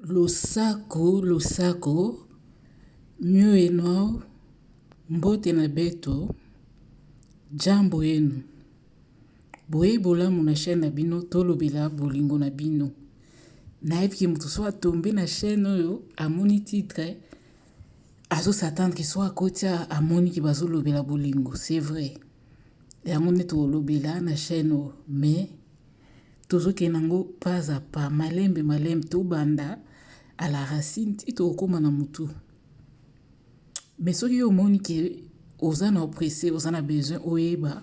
Losako losako mieux et nao mbote na beto jambo yenu boye bolamu na chaine na bino tolobela bolingo na bino nayebi ke moto so atombe na chaine oyo amoni titre azo s'attendre soit akoti amoni ke bazolobela bolingo c'est vrai yango nde tolobela na chaine oyo mais Tozo kende nango pas à pas, malembe malembe, tobanda à la racine ti toko koma na mutu. Mais soki yo omoni que oza na oppresse, oza na besoin oyeba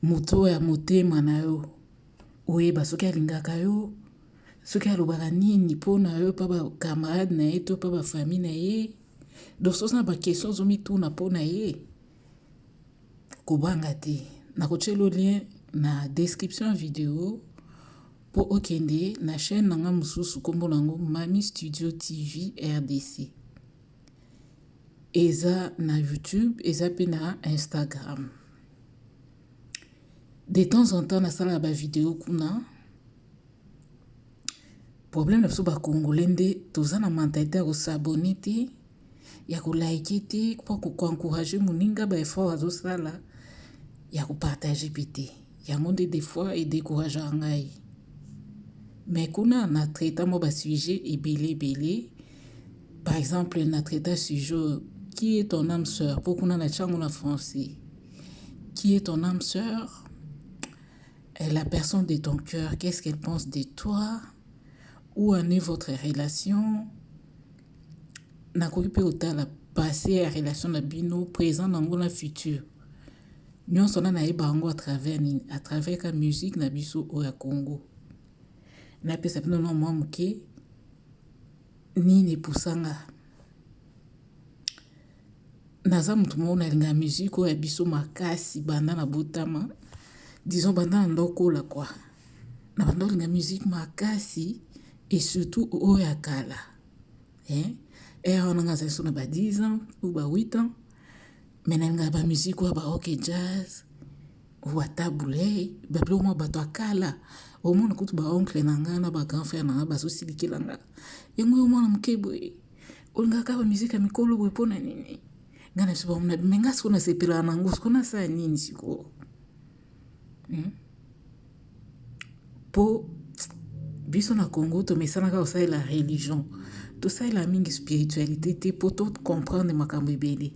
mutu oyo ya motema na yo, oyeba soki alingaka yo, soki alobaka nini pona yo epa ba camarade na ye to epa ba famille na ye, donc soki oza na ba question ozo mituna pona ye, kobanga te nakotielo lien na description ya video po okende na chaine na nga mususu kombo na ngo Mami Studio TV RDC eza na YouTube eza pe na Instagram de temps en temps nasalaka ba video kuna problème na biso ba congolais nde toza na mentalite ya kosabone te ya ko like te po ko encourager muninga ba effort azo sala ya ko partager pe te yango nde des fois e decouragea ngai mais kuna na traita mwa ba sujet ebele ebele par exemple na traita sujet oyo qui est ton âme sœur po kuna na tiango na français qui est ton âme sœur la personne de ton cœur qu'est-ce qu'elle pense de toi où en est votre relation nakoki mpe kotala passé ya relation na bino présent na yango na futur nyonso na nayeba yango à travers nini à travers ka musique na biso oyo ya Congo napesa bino na mwa moke nini epusanga naza moto moko nalinga musique oyo ya biso makasi banda na botama disons banda na ndokola kwa na banda olinga musique makasi et surtout oyo ya kala Heure wana nga azali so na ba 10 ans ou ba 8 ans mais nalingaka ba musique oyo ba rock et jazz wata bouley ba biloko mwa bato ya kala omona kutu ba oncle na nga na ba grand frère na nga bazosilikela nga yango yo mwana moke boye olingaka ba musique ya mikolo boye mpo na nini nga na biso bamona me nga siko nasepelaka na yango siko nasala nini sikoyo hmm? po biso na congo tomesanaka kosalela religion tosalela mingi spiritualité te mpo to comprendre makambo ebele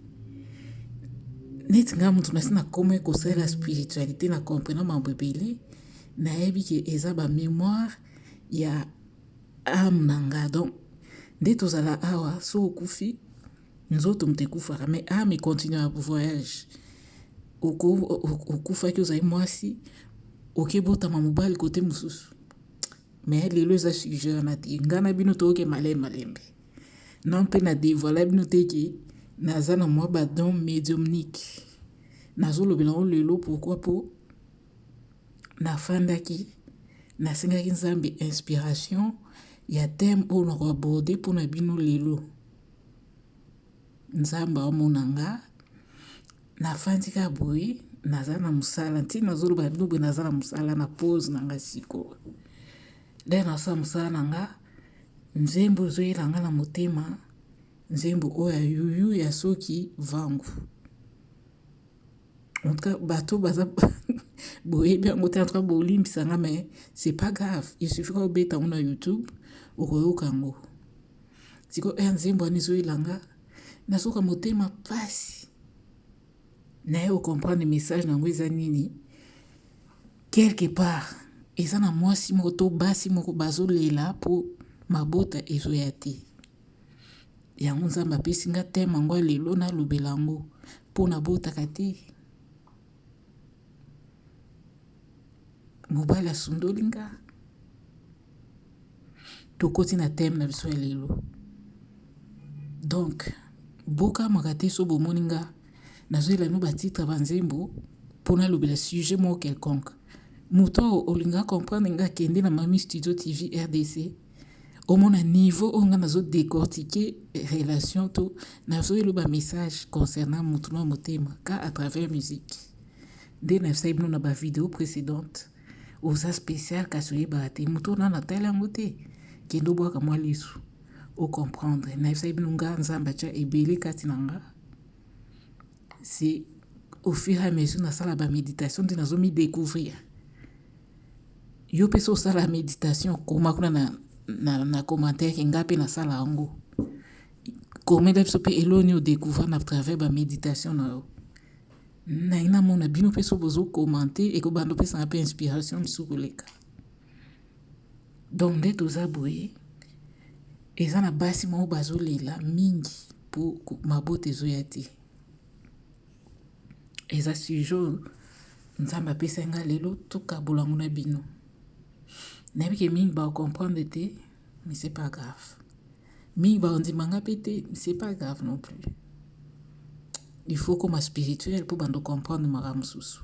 neti ngai moto nasi nakomaki kosalela spiritualité na comprena makambo ebele nayebi ke eza bamémoire ya ame na ngai donc nde tozala awa so okufi Nzoto moto ekufaka mais ame ah, econtinua voyage. Okufaki ozali mwasi, okebotama mobali kote mosusu. Mais lelo eza sujet wana te. Ngai na bino toyoke malembe malembe. Non mpe na devoila bino te ke naza na mwa badon mediumnique. Nazolobela yango lelo pourquoi po nafandaki nasengaki Nzambe inspiration ya thème oyo nakoaborde mpo na bino lelo. Nzambe aomona nga na fandi kaka boye naza na mosala ntina nazoloba na bino boye naza na mosala na pose na nga sikoyo nde nasala mosala na nga nzembo ezoyela nga na motema nzembo oyo ya yuyu ya soki vangu antuka bato baza boyebi yango te antuka bolimbisa nga mais c'est pas grave il suffit ka obeta yango na youtube okoyoka yango Siko heure nzembo wana ezoyela nga nazoka motema pasi naye o comprendre message na yango eza nini quelque part eza na mwasi moko to basi moko bazolela mpo mabota ezoya te yango nzambe apesi nga teme yango ya lelo nalobela yango mpo nabotaka te Mobali asundoli nga tokoti na teme na biso ya lelo donk bokamwaka te so bomoni nga nazoyela bino batitre ya banzembo mpo nalobela sujet moko quelconque moto oyo olinga comprendre nga kende na mami studio tv rdc omona niveau oyo nga nazo decortiquer relation to nazo eloba message concernant mutu na motema ka à travers musique nde na sai bino na ba video précédente oza spécial kasi oyebaka te mutu ona natali yango te kende obwaka mwa lisu o comprendre na sai bino nga nzambe atya ebele kati na nga C'est au fur et à mesure nasala ba meditation nde nazo mi decouvrir. Yo mpe so osala meditation koma kuna na, na, na commentaire nga mpe nasala yango. Komela biso mpe eloko nini odecouvrir na travers ba meditation na yo. Naye namona bino mpe so bozo commente ekobanda opesanga mpe inspiration mosusu koleka. Donc nde toza boye eza na basi moko bazolela mingi po mabota ezoya te eza sujet oyo nzambe apesaki nga lelo tokabola yango na bino nayebi ke mingi ba comprendre te mais c'est pas grave. mingi bakondima nga pe te c'est pas grave non plus il faut koma spirituel mpo bando comprendre makambo mosusu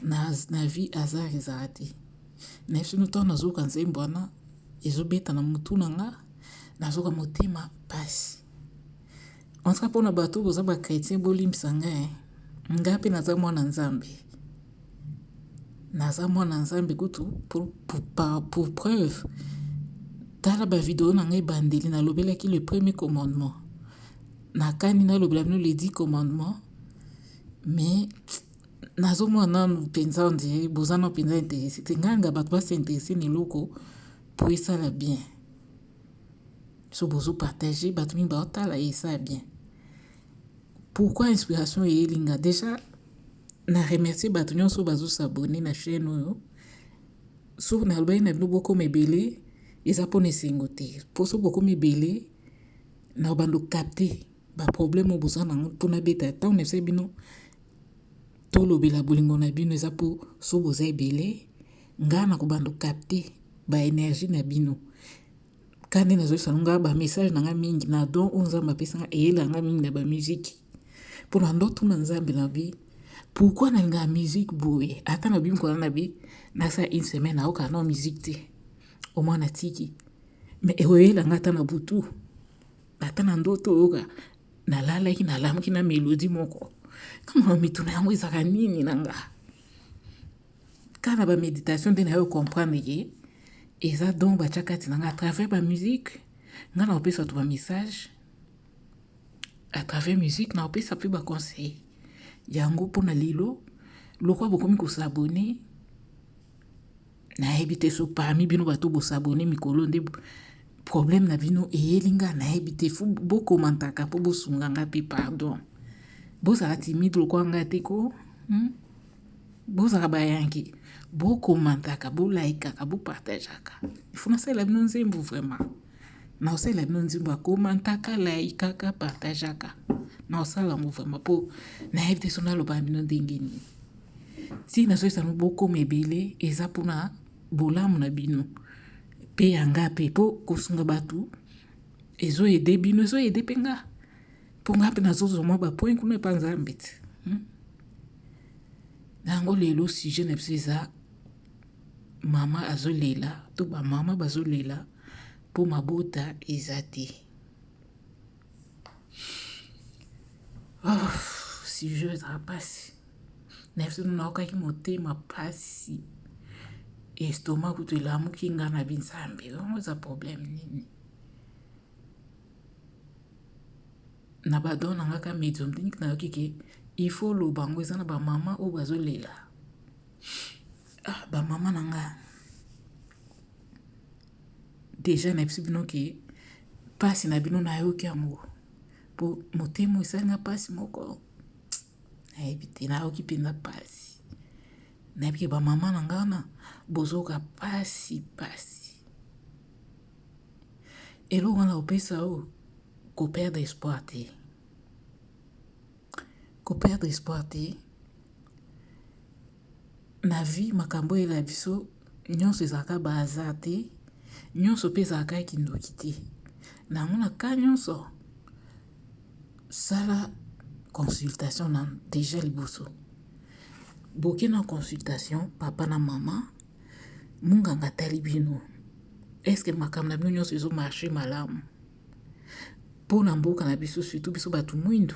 na, na vie hasard ezala te na biso ntango nazoyoka nzembo wana ezobeta na motu na nga nazoka motema mpasi En tout cas pona bato boza ba chrétien bolimbisa nga eh. Nga pe naza mwana nzambe. Naza mwana nzambe kutu pour, pour, pour, pour preuve. Tala ba video na ngai bandeli nalobelaki le premier commandement. Nakani nalobela bino le dix commandement. Mais nazomona nanu mpenza ondire boza na mpenza interese te nganga bato basi interese na eloko po esala bien so bozo partager bato mingi baotala ye eza bien pourquoi inspiration eyeli nga déjà na remercie bato nyonso oyo bazosabone na chaîne oyo soki nalobaki na bino bokoma ebele eza mpona esengo te mpo soki bokoma ebele na bando capte baproblème oyo boza nango mpo nabeta ntango na esa bino tolobela bolingo na bino eza mpo so boza ebele Nga nako bando capter ba energie na bino kande na zoyisa nonga ba message na nga mingi na don o nzambe apesa nga eyela nga mingi na ba musique mpo na ndo tuna nzambe na bi pourquoi na linga musique boye ata na bimi kona na bi nasa une semaine aoka no musique te au moins na tiki mais ekoyela nga ata na butu ata na ndoto oyoka nalalaki nalamuki na melodi moko kama mituna yango ezaka nini na nga Kaka na ba meditation nde nayo comprendre ke eza don batya kati na nga à travers ba musique nga na kopesa bato ba message à travers musique na kopesa mpe ba conseil yango mpo na lelo lokwa bokomi kosabone nayebi te so parmi bino bato bosabone mikolo nde problème na bino eyeli nga nayebi te fo bokomantaka mpo bosunga nga mpe pardon bozala timide lokwa nga te ko hmm? Bozala bayangi, bo commentaka, bo likaka, bo partageaka. Il faut nasalela bino nzembo vraiment. Naosalela bino nzembo ya commentaka, likaka, partageaka. Naosala yango vraiment po nayebi te so naloba bino ndenge nini. Ntina nazoyebisa bino bokoma ebele eza mpona bolamu na bino mpe ya nga mpe mpo kosunga bato ezoyede bino ezoyede mpe nga. mpo ngai mpe nazozwa mwa bapoint kuna epa nzambe ti hmm? na yango lelo sujet na biso eza mama azolela to bamama bazolela mpo mabota eza te oh, sujet ezala mpasi na biso naokaki motema mpasi estoma kutu elamuki ngai na binzambe yango eza problème nini na ba don na nga ka medium clinique na yoki ke il faut loba yango eza na ba mama oyo bazolela ah, ba mama na nga deja na yebisi bino ke mpasi na bino nayoki yango mpo motema esali nga mpasi moko nayebi te nayoki mpenza mpasi nayebi ke bamama na nga wana bozoka mpasi mpasi eloko wana kopesa yo koperdre espoir te koperdre espoir te na vie makambo oyela biso nyonso ezalaka ba hasard te nyonso mpe ezalaka ya kindoki te na yango na ka nyonso sala consultation na deja liboso boke na consultation papa na mama Munganga atali bino est ce que makambo na bino nyonso ezo marche malamu mpo na mboka na biso surtout biso bato mwindu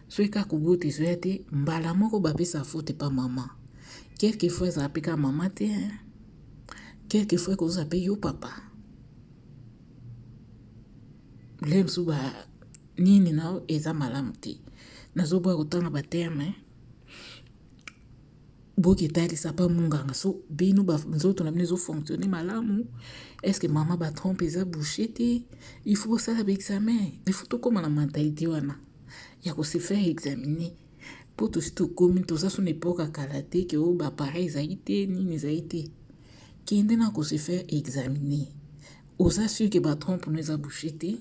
soki kaka kobota ezoya te mbala moko bapesa faute pa mama quelque fois ezala mpe kaka mama te quelque fois ekozala mpe yo papa bile mosusu ba nini na eza malamu te nazoboya kotanga baterme Boke talisa pa munganga so bino ba nzoto na bino ezo fonctionner malamu est ce que maman ba trompe eza bouche te il faut osala ba examen il faut tokoma na mentalite wana ya ko se faire examiner po tosi tokomi toza so na epoka kala te ke o ba pareil ezali te nini ezali te kende na ko se faire examiner oza sur que ba trompe no eza bouche te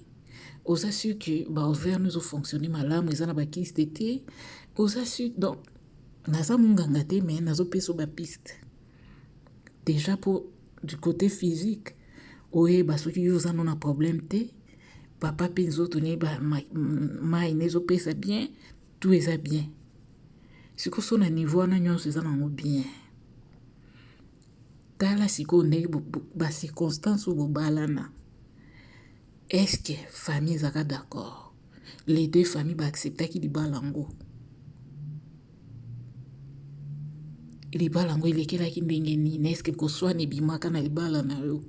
oza sur que ba ovaire no ezo fonctionner malamu eza na ba kiste te oza sur donc Naza munganga te mais nazo peso ba piste. Deja po du cote physique oyeba soki yo oza no na problème te papa mpe nzoto ne mai na ezopesa bien tout eza bien sikoyo so na niveau wana nyonso eza nango bien tala sikoyo ndenge bacirconstance oyo bobalana estce famille ezaka d'accord Les deux familles ba acceptaki libala yango. Libala yango elekelaki ndenge nini? Est-ce que koswana ebimaka na libala na yo?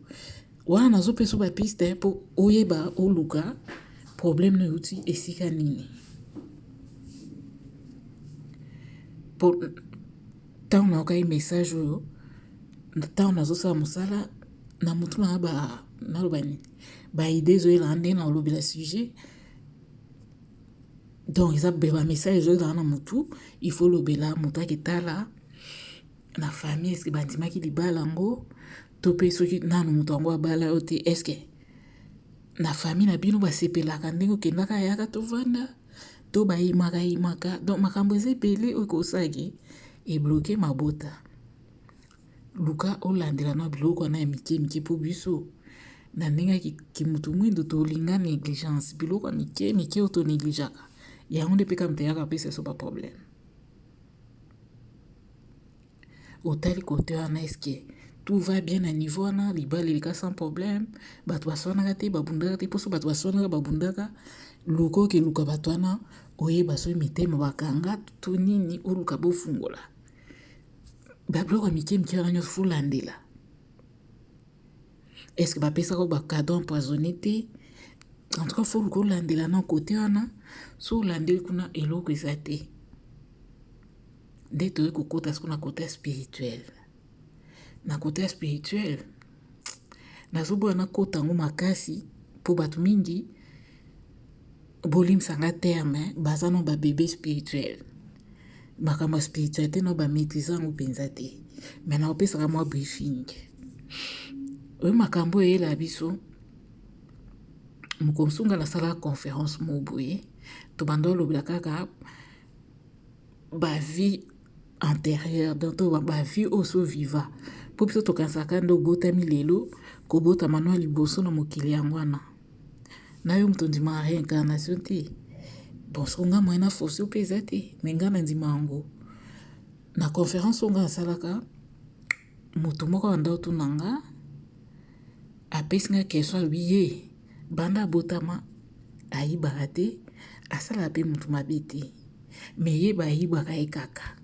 Wana nazopesa yo bapiste mpo oyeba oluka problème na euti esika nini. Mpo ntango nayokaki message oyo, ntango nazosala mosala na motu na ba naloba nini ba idee ezoyela nga ndenge na olobela sujet donc eza ba message ezoyela nga na mutu il faut olobela moto ake tala na famille eske bandimaki libala yango to mpe soki nanu moto yango abala yo te eske na famille na bino basepelaka ndenge okendaka yaka tovanda to bayimaka yimaka donc makambo eza ebele oyo ekosaki ebloke mabota Luka olandela na biloko wana ya mike mike po biso na ndenge ya kimutu mwindo tolinga negligence biloko ya mike mike oyo toneglijaka yango nde mpe kamta eyaka pesa so baproblème otali kote wana eske tout va bien na niveau wana libala eleka sans problème bato baswanaka te babundaka te mposo bato baswanaka babundaka luka okeluka bato wana oyeba soki mitema bakanga to nini oluka bofungola babiloko ya mike mike wana nyonso folandela estce bapesaka bacado empoisonne te en tout cas fo luka olandela na kote wana so olandeli kuna eloko eza te nde toyei kokota siko na kote ya spirituel na kote ya spirituel nazoboya nakota yango makasi mpo bato mingi bolimsanga terme baza na babebe spirituel Makambo ya spiritualité na ba maîtrise yango penza te. Mais na opesaka mwa briefing. Oyo makambo eyela biso mokolo mosusu ngai nasalaka conférence moko boye tobanda olobela kaka bavie antérieure donc to bavie oyo so viva mpo biso tokanisaka nde obotami lelo kobotama no ya liboso na mokili yango wana nayo mutu ondimaka reincarnation te bon soki nga moyen na force yo pe eza te mais nga nandima yango na conference oyo nga nasalaka mutu moko abanda kotuna nga apesi nga question alobi ye banda abotama ayibaka te asalaka pe mutu mabe te mais ye bayibaka ye kaka.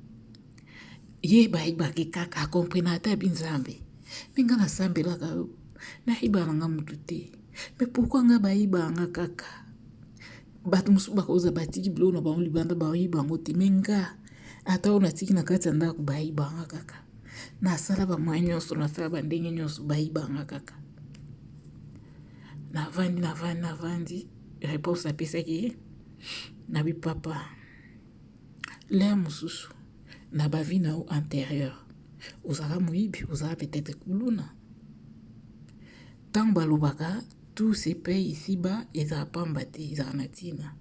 ye bayebaki kaka akomprena ata bi nzambe mpe nga nasambelaka yo nayiba na nga motu te me pourkui nga bayiba nga kaka bato mosusu bakoza batiki biloko na bango libanda bayiba yango te me nga ata oyo natiki na kati ya ndako bayiba nga kaka nasala bamoye nyonso nasala bandenge nyonso bayiba nga kaka navandi navandi navandi reponse apesaki ye na bipapa L'heure mususu na ba vie na yo anterieure ozalaka moyibi, ozalaka peut etre kuluna. Tango balobaka tout se paie ici bas ezalaka pamba te, ezalaka na tina.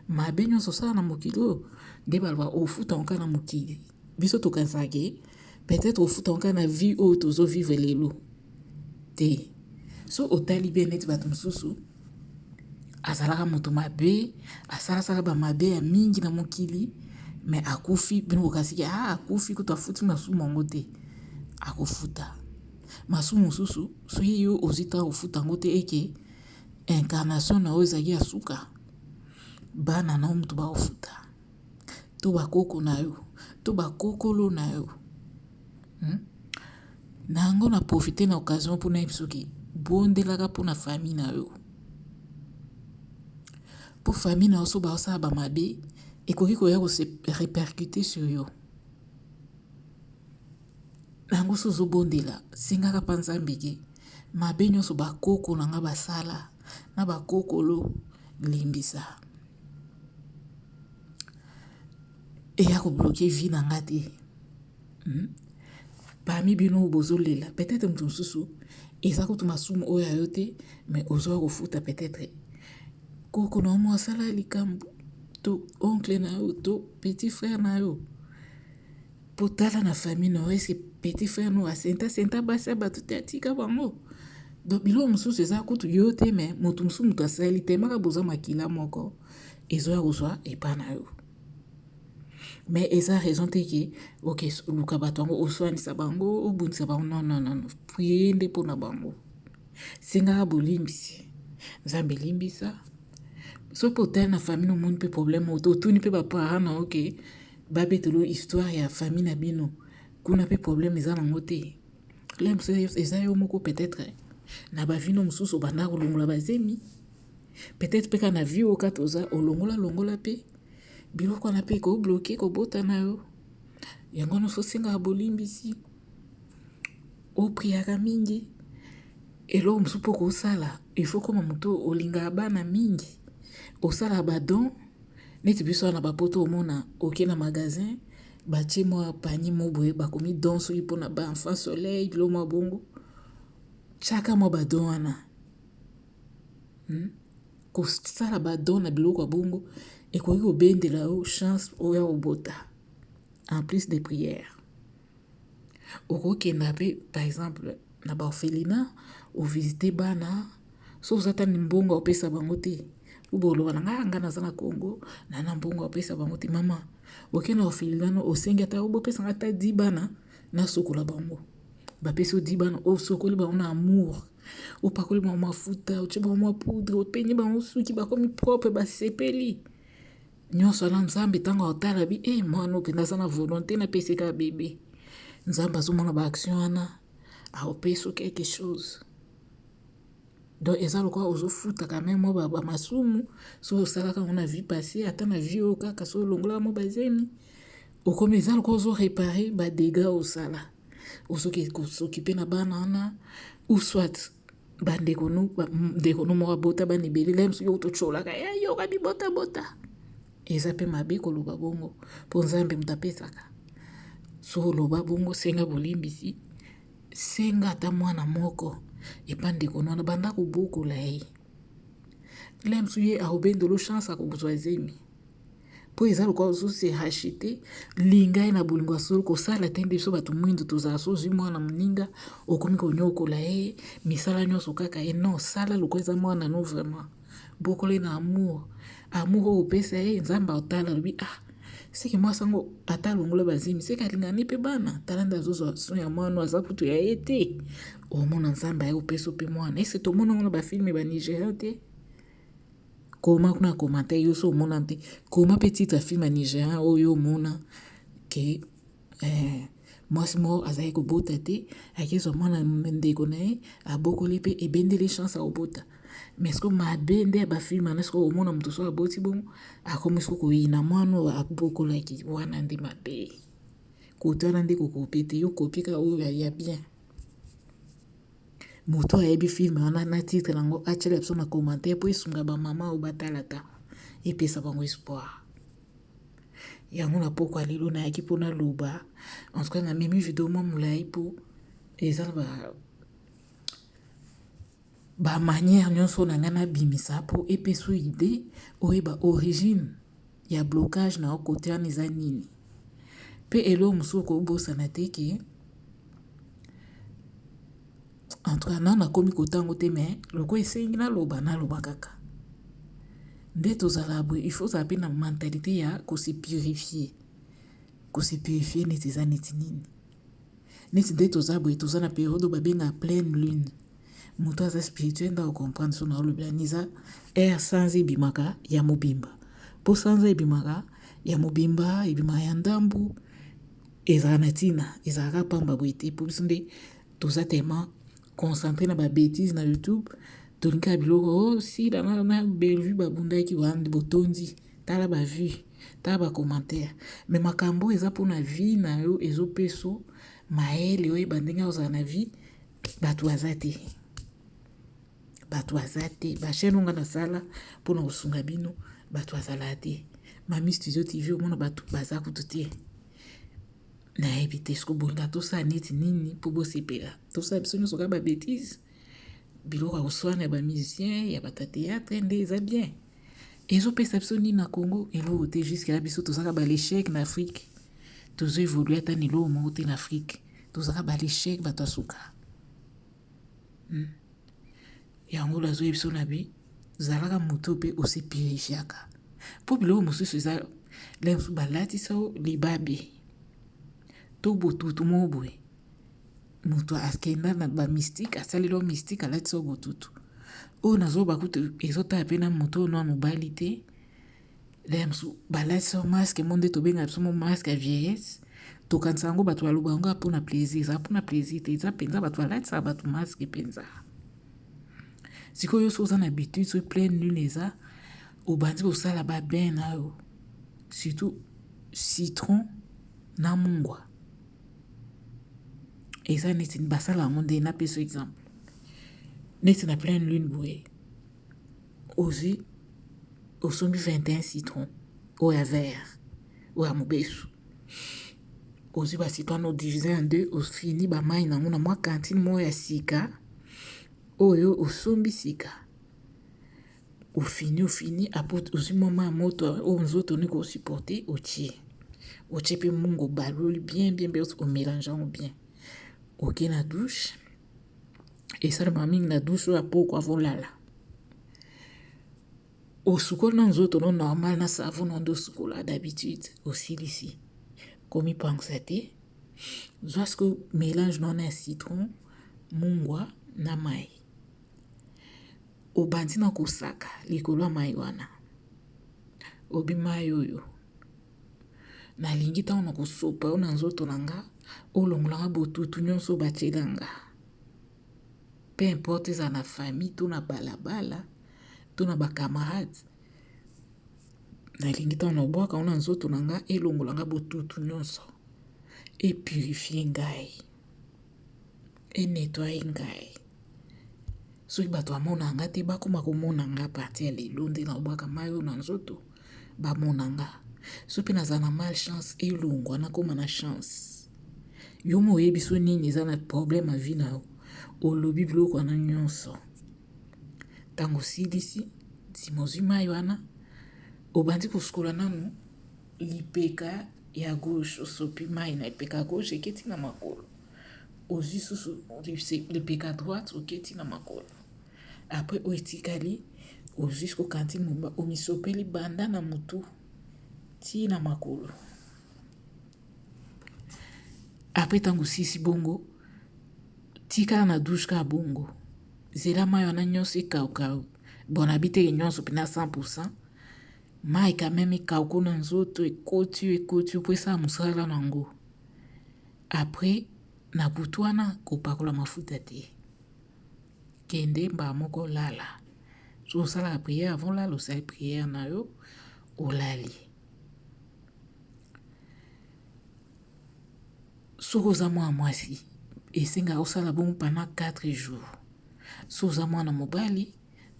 Mabe nionso osala na mokili oyo nde balobaka ofuta yango kaka na mokili. Biso tokanisaka ke peut etre ofutama kaka na vie oyo tozo vivre lelo te soki otali bien neti bato mosusu azalaka moto mabe asalasaka ba mabe ya mingi na mokili me akufi bino bokasi ke ah akufi kutu afuti masumu yango te akofuta masumu mosusu soki yo ozwi ntango kofuta yango te eke incarnation na oyo ezalaki ya suka bana na yo moto bakofuta to ba koko na yo to ba kokolo na yo hmm? na yango na profite na occasion mpo nayebi soki bondelaka mpo na famille na yo mpo famille na yo so baosala bamabe ekoki koya kose repercute sur yo na yango so ozobondela sengaka mpa nzambe ke mabe nyonso bakoko na ngai basala na ba kokolo limbisa eya ko bloquer vie na nga te hmm? parmi bino oyo bozolela peut-être moto mosusu eza kutu masumu oyo ya yo te mais ozoya kofuta peut-être koko na omo asala likambo to oncle na yo to petit frère na yo Po tala na famille na yo est ce que petit frère na yo a senta senta basi ya batu te atika bango? Donc biloko mosusu eza kutu yo te mais mutu mosusu mutu asali tellement kaka boza makila moko ezoya kozwa epa na yo. Mais eza raison te ke ok luka bato yango oswanisa bango obundisa bango non non non prier nde mpo na bango sengaka bolimbisi nzambe limbisa soki otali na famille omoni mpe problème oyo otuni mpe baparent na yo ke Ba betelo histoire ya famille na bino kuna pe problème eza na ngo te problème eza yo moko peut etre na ba vino mususu obanda kolongola ba zemi peut etre pe ka na vie oka toza olongola longola pe biloko wana pe ko bloquer ko bota na yo yango wana osengaka bolimbisi opriaka mingi eloko mosusu mpo kosala ifo koma moto olingaka bana mingi osalaka badon Neti biso awa na ba poto omona oke na magasin batie mwa panier moko boye bakomi don soki mpona ba enfant soleil biloko mwa bongo tiaka mwa ba don wana hmm? kosala ba don na biloko ya bongo ekoki kobendela yo chance oya kobota en plus de prière Okokenda pe par exemple na ba orphelinat o visiter bana soki oza ata na mbongo ya kopesa bango te ou bien oloba na nga nga naza na Congo naza na mbongo ya kopesa bango te mama oke na orphelinat no osengi ata o bopesa nga ata 10 bana nasokola bango bapesi yo 10 bana osokoli bango na amour opakoli bango mafuta otie bango mua poudre opeigne bango suki bakomi propre basepeli. Nionso na nzambe tango akotala bi eh mwana oyo penza aza na volonte na pesi kaka bebe. Nzambe azomona ba action wana akopesi yo quelque chose. Donc eza lokola ozofuta quand même ba, ba masumu soki osalaka yango na vie passée ata na vie oyo kaka soki olongolaka mo bazemi okomi eza lokola ozo reparer ba dégats osala ozoki kosokipe na bana wana ou soit bandeko nu ndeko nu moko abota bana ebele ngai mosusu yoko totyolaka ya eh, yoka bibotabota eza mpe mabe koloba bongo mpo nzambe moto apesaka so oloba bongo senga bolimbisi senga ata mwana moko epa ndeko nu wana banda kobokola ye ngai mosusu ye aobendolo chance akozwa zemi mpo eza lokola ozose hachete linga ye na bolingo ya solo kosala te nde biso bato mwindu tozala so ozwi mwana moninga okomi konyokola ye misala nyonso kaka ye non sala lokola eza mwana no vraiment bokola ye na amour amour oyo opesa ye nzambe aotala alobi ah seke mwasi yango ata alongola bazemi seke alingani mpe bana tala nde azozwa so ya mwana aza kutu ya ye te omona nzambe aye opesa mpe mwana ese tomona yango na bafilme ba nigeria te Koma kuna commentaire yo so omona mpe koma pe titre ya film ya nigerian oyo yo omona ke eh, mwasi moko azali kobota te akezwa mwana ndeko na ye abokoli mpe ebendeli chance akobota mais siko mabe nde ya bafilme wana siko omona moto so aboti bongo akomi siko koyina mwana oyo abokolaki wana nde mabe kotala nde kokope te yo kopi kaka oyo ya bien Moto ayebi film wana na titre nango atiela biso na commentaire po esunga ba mama oyo batalaka epesa bango espoir. Yango na pokwa lelo nayaki mpo naloba en tout cas na memi video mwa molai mpo eza na ba bamanière nyonso na ngai nabimisa mpo epesa idee oyeba origine ya blocage na yo kote wana eza nini mpe eloo mosusu okobosana te ke en tout cas nano nakomi kotango te me loko esengi naloba naloba kaka nde tozala boye il faut ozala mpe na mentalite ya kose purifier kose purifier neti eza neti nini Neti nde toza boye toza na periode oyo ba benga pleine lune mutu aza spirituel nde ako comprendre soki nazo lobela nini eza heure sanza ebimaka ya mobimba po sanza ebimaka ya mobimba ebimaka ya ndambu ezalaka na tina ezalaka pamba boye te po biso nde toza tellement concentre na ba betises na youtube tolingaka biloko oh sila na na Bellevue babundaki wana nde botondi tala ba vue Tala ba commentaire mais makambo oyo eza pona vie na yo ezo peso mayele oyeba ndenge ozala na vie batu baza te batu baza te ba chaîne onga na sala pona kosunga bino batu azala te mami studio tv omona batu baza kutu te nayebi te soki bolinga tosala neti nini mpo bosepela tosala biso nyonso kaka babetise Biloko ya koswana ya ba musiciens, ya batu ya theatre nde eza bien. Ezo pesa biso nini na Congo? Eloko te jusque là biso tozaka ba l'échec na Afrique. Tozo évoluer ata na eloko moko te na Afrique. Tozaka ba l'échec bato ya suka. Hmm. Yango oyo azoyebi biso na bi zalaka moto mpe osepeleziaka mpo biloko mosusu eza lelo mosusu balatisa yo libabe to botutu moko boye mutu akenda na ba mystique asaleli yo mystique alatisa yo botutu oyo nazoloba kutu ezotala mpe na moto oyo noa mobali te laya mosusu balatisa yo maske mo nde tobenga biso mo maske ya vieillesse tokanisa yango bato baloba yango mpo na plaisir eza mpo na plaisir te eza mpenza bato balatisaka bato maske mpenza sikoyo soki oza na habitude soki pleine lune eza obandi kosala babain na yo surtout citron na mungwa eza neti basala yango nde napesa exemple neti na pleine lune boye ozwi osombi 21 citron oyo ya vert oyo ya mobesu ozwi bacitron no divise en deux ofini bamai nango na mwa kantine moko ya sika oyo osombi sika Ofini ofini apres ozwi mwa mayi ya moto oyo nzoto olingi ko supporter otie. Otie mpe mungu obaloli bien bien bien o melange yango bien. Oke na douche esalemaka mingi na douche oyo ya pokwa avant olala. Osukoli nanu nzoto no normal na savon na yo nde osukolaka d'habitude osilisi komipangwisa te zwa sikoyo melange na yo na ya citron, mungwa na mayi. Obandi na kosaka likolo ya mai wana. Obi mai oyo. Nalingi ntango na kosopa yo na nzoto na nga, olongola nga botutu nyonso oyo batyela nga. Pe importe ezala na famille to na balabala to na bakamarade, nalingi ntango na obwaka yo na nzoto na nga, elongola nga botutu nyonso, epurifie ngai. e nettoyer ngai soki bato bamona nga te bakoma komona nga à partir ya lelo nde nalobaka mayi oyo na nzoto bamona nga soki mpe nazala na mal chance elongwa nakoma na chance yo moko oyebi so nini eza na problème ya vie na yo olobi biloko wana nyonso ntango osilisi nsima ozwi mayi wana obandi kosukola nanu Lipeka ya gauche osopi mayi na lipeka ya gauche eke ti na makolo ozui susu lipeka droite oke ti na makolo apres oyo etikali ozui siko kantine mobimba omisopeli banda na motu ti na makolo apres ntango osisi bongo tikala na douche ka bongo zela mayi wana nyonso ekauka bonabi teke nyonso mpena 100 Mike amemi cargo na nzoto ekoti ekoti po esala mosala na ngo après na butu wana kopakola mafuta te kende mbala moko lala so osalaka prière avant olala osali prière na yo olali soki oza mwana mwasi esengaka osala bongo pendant 4 jours so oza mwana mobali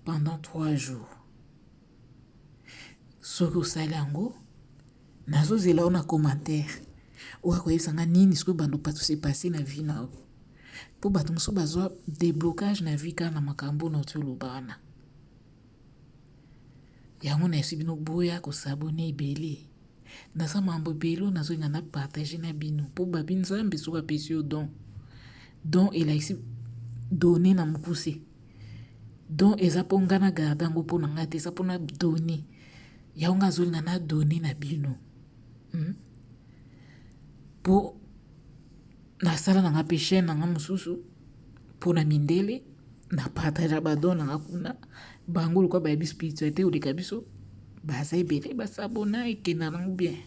pendant 3 jours Soki osali yango, nazo zela yo na commentaire. Oya koyebisa nga nini sikoyo bando patu se passer na vie na yo. Po bato mosusu bazwa deblocage na vie kaka na makambo na oyo oloba wana. Yango na yebisi bino boya ko s'abonner ebele. Naza mambo ebele oyo nazolinga na partage na bino po babi nzambe soki apesi yo don don elakisi done na mokuse don eza mpo ngai na garde yango mpo na ngai te eza mpona done yango ngai azolinga na done na bino hmm? mpo nasala na ngai mpe chaine na ngai mosusu pona mindele na partager ba don na kuna bango lokwa ba yebi spiritualité oleka biso baza ebele ba sabona ekenda nango bien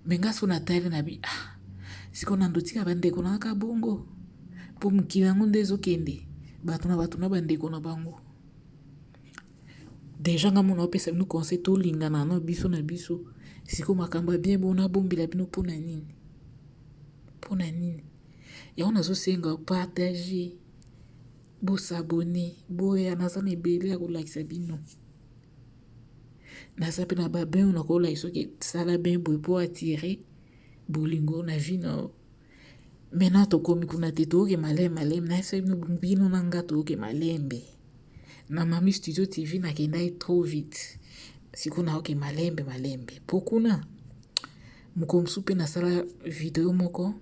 mais nga so na tali na bi ah siko na ndotika ba ndeko na ka bongo po mokili yango nde ezokende bato na bato na ba ndeko na bango deja nga mona opesa bino conseil tolingana na biso na biso siko makambo ya bien bona bombela bino mpo na nini mpo na nini Yango nazo senga partager, bo s'abonner, boya naza na ebele ya kolakisa bino. Naza pe na ba bain na kolakisa soki sala bain boye po attirer bolingo na vie na yo. Maintenant tokomi kuna te toke malembe malembe na soki bino na nga toke malembe. Na mami studio TV nakendaki trop vite. Siko naoke malembe malembe. Po kuna mokolo mosusu pe nasala video moko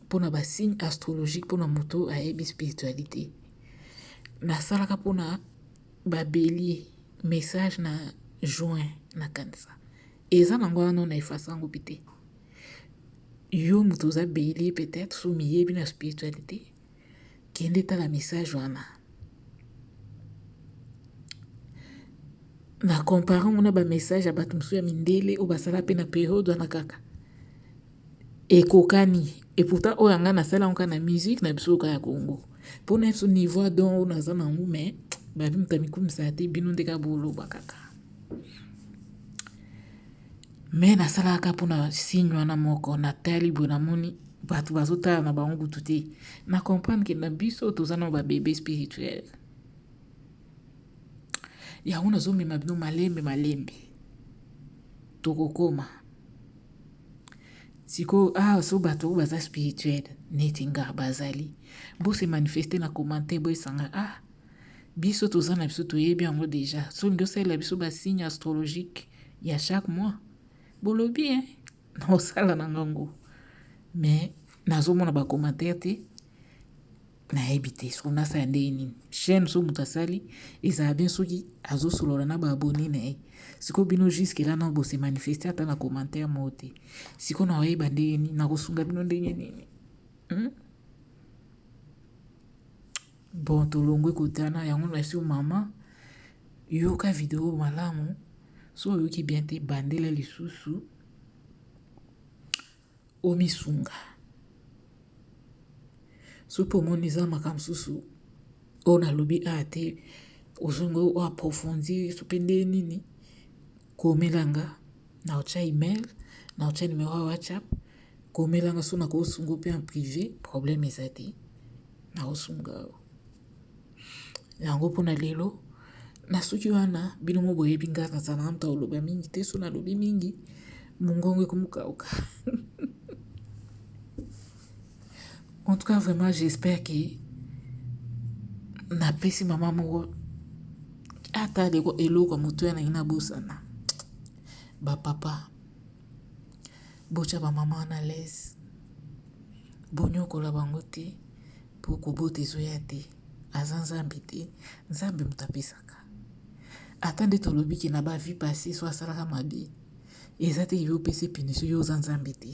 pona ba signe astrologique pona moto ayebi spiritualite nasalaka pona ba belie message na juin na kanisa eza nango wana no na efasa yango mpe te yo moto oza belie peut-être so miyebi na spiritualite Kende tala message wana. Na compare yango na ba message ya bato mosusu ya mindele oyo basala mpe na periode wana kaka. Ekokani et pourtant oyo yanga nasala yango kaka na musique na biso kaka ya Congo. Mpo na biso niveau ya don oyo naza na yango mais babi moto amikumisa te bino nde kaka boloba kaka. Mais nasalaka kaka mpo na signe wana moko, natali boye namoni bato bazotala na bango kutu te, na comprendre ke na biso toza na ba bebe spirituel. Yango nazomema bino malembe malembe, tokokoma sikoyo awa ah, so bato oyo baza spirituel neti nga bazali, bose manifeste na commentaire boyesanga ah biso toza na biso toyebi yango deja, soki osalela biso basigne astrologique ya chaque mois bolobi hein naosala na nga ngo mais nazomona ba commentaire te nayebi te soki nasala ndenge nini chaîne so moto asali ezala bien soki azosolola na baabone na ye sikoyo bino juske la nao bose manifeste ata na commentaire moko te sikoyo naoyeba ndenge nini nakosunga bino ndenge nini hmm? Bon tolongwe kotana yango nasi yo mama yoka video malamu so oyoki bien te bandela lisusu omisunga soki omoni eza makambo mosusu oyo nalobi a te ozongi oaprofondir so mpe nde nini komelanga Na otia email, na otia numero ya WhatsApp, komela nga so na ko sunga yo pe en prive, problème eza te. Na ko sunga yo. Yango pona lelo, na suki wana bino mo boyebi nga na zalaka mutu akoloba mingi te, so na lobi mingi mongongo ekomi ko kauka. En tout cas, vraiment, j'espère que na pesi mama moko ata leko eloko moto ya nangi na bosana ba papa botya bamama wana lese bonyokola bango te mpo kobota ezoya te aza nzambe te nzambe moto apesaka ata nde tolobi ke na bavie passe so asalaka mabe eza te yo opesi punition yo oza nzambe te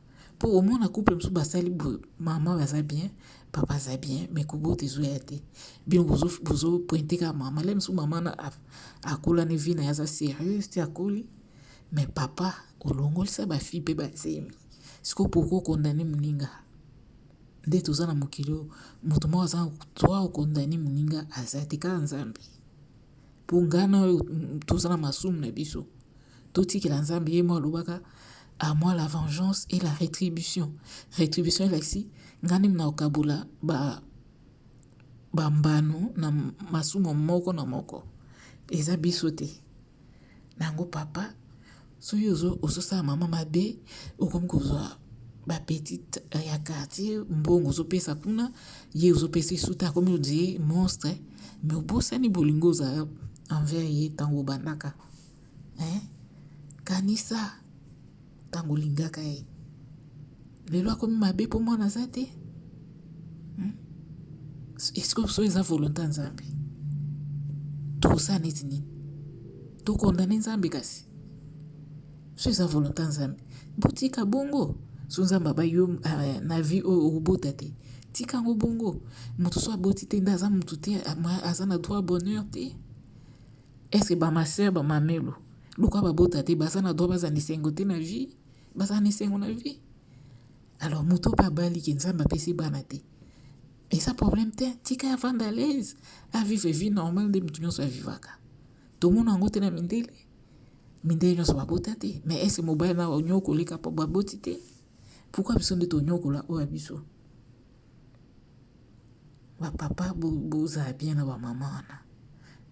Po omona couple mususu basali boye maman baza bien papa aza bien mais kobota ezoya te bino bozo bozo pointe kaka maman lelo mususu maman na akola ne vie na ye aza serieuse ti akoli mais papa olongolisa ba fille pe ba zemi sikoyo pourquoi okondane moninga nde toza na mokili oyo moto moko aza droit okondane moninga aza te kaka nzambe Mpo ngai na yo toza na masumu na biso, totikela Nzambe ye moko alobaka à moi la vengeance et la retribution. Retribution elakisi ngai nde nakokabola ba bambano na masumu moko na moko, eza biso te na yango papa. Soki ozo ozo sala maman mabe okomi kozwa ba petite eh, ya quartier mbongo ozo pesa kuna ye ozo pesa esuta akomi odi monstre mais obosani bolingo oza envers ye tango obandaka eh kanisa tango olingaka ye Lelo akomi mabe po mwana aza te? Hum? Est-ce que soki eza volonté ya Nzambe? Tokosala neti nini? Tokondane Nzambe kasi? Soki eza volonté ya Nzambe, botika bongo. Soki Nzambe abai yo eh, na vie oyo okobota te, tika yango bongo. Moto soki aboti te nde aza moto te, ama- aza na droit ya bonheur te. Est-ce que ba ma sœur, ba mamelo, lokola babota te, baza na droit bazala na esengo te na vie? bazala na esengo na vie alors moto mpe abali ke nzambe apesi bana te eza problème te tika ya vanda alaise avivre vie normale nde moto nyonso avivaka tomona yango te na mindele mindele nyonso babota te mais ese mobali na onyokolika mpo baboti te pourkui biso nde tonyokola oyo ya biso Ba papa bozala bien na ba mama wana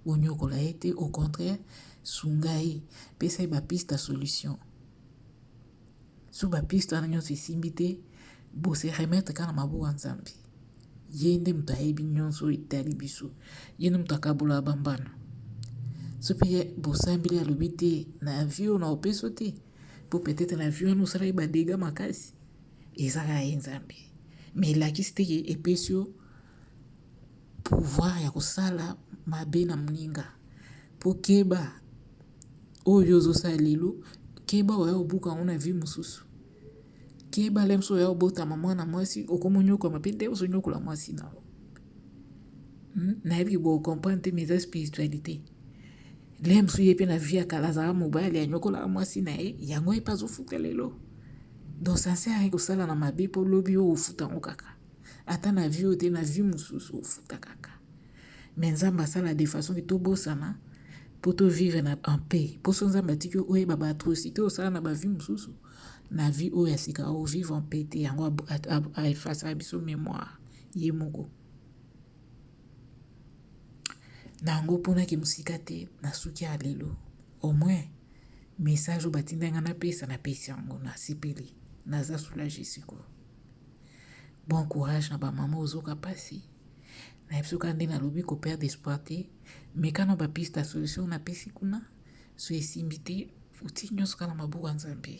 boniokola ye te au contraire sunga ye pesa ye ba piste ya solution so ba piste wana nyonso esimbi te bo se remettre kaka na maboko ya Nzambe ye nde moto ayebi nyonso oyo etali biso ye nde moto akabolaka ba mbano so mpe ye bosambeli alobi te na vie oyo na opeso te mpo peut-être na vie wana osalaki ba dega makasi. eza na ye nzambe mais elakisi te ke epesi yo pouvoir ya kosala mabe na moninga po keba oyo ozosala lelo keba oya obuka yango na vie mosusu keba lemso oya obotama mwana mwasi okomonyokwama pe nde ozonyokola mwasi na yo Hmm? nayebi ke bocomprendre te mais eza spiritualité lea mosusu ye mpe na vie ya kala azalaka mobali anyokolaka mwasi na ye yango ye mpe azofuta lelo donc sincere kosala na mabe mpo lobi oyo ofuta yango kaka ata na vie oyo te na vie mosusu ofuta kaka me nzambe asala de façon ke tobosana mpo tovivre na en paix mposo nzambe atiki oyeba baatrocité osala na bavie mosusu na vie oyo ya sika ovivre en paix te yango efasaka biso mémoire Ye moko. Na yango oponaki mosika te, nasuki ya lelo. Au moins, message oyo batindaki nga napesa, napesi yango. Nasepeli. Naza soulager sikoyo. Bon courage na ba mama ozoka pasi. Nayebi soki ande nalobi ko perdre espoir te, meka na ba piste ya solution napesi kuna, soki esimbi te, otii nyonso kaka na maboko ya Nzambe.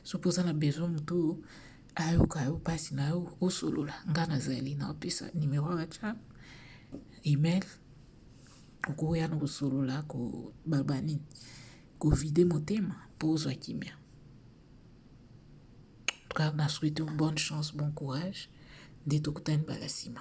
Soki oza na besoin moto oyo Ayoka yo pasi na yo osolola nga nazali na opesa numero ya WhatsApp email okoya na kosolola kobaba nini kovide motema mpo ozwa kimia car na souhaite bonne chance bon courage nde tokutani bala nsima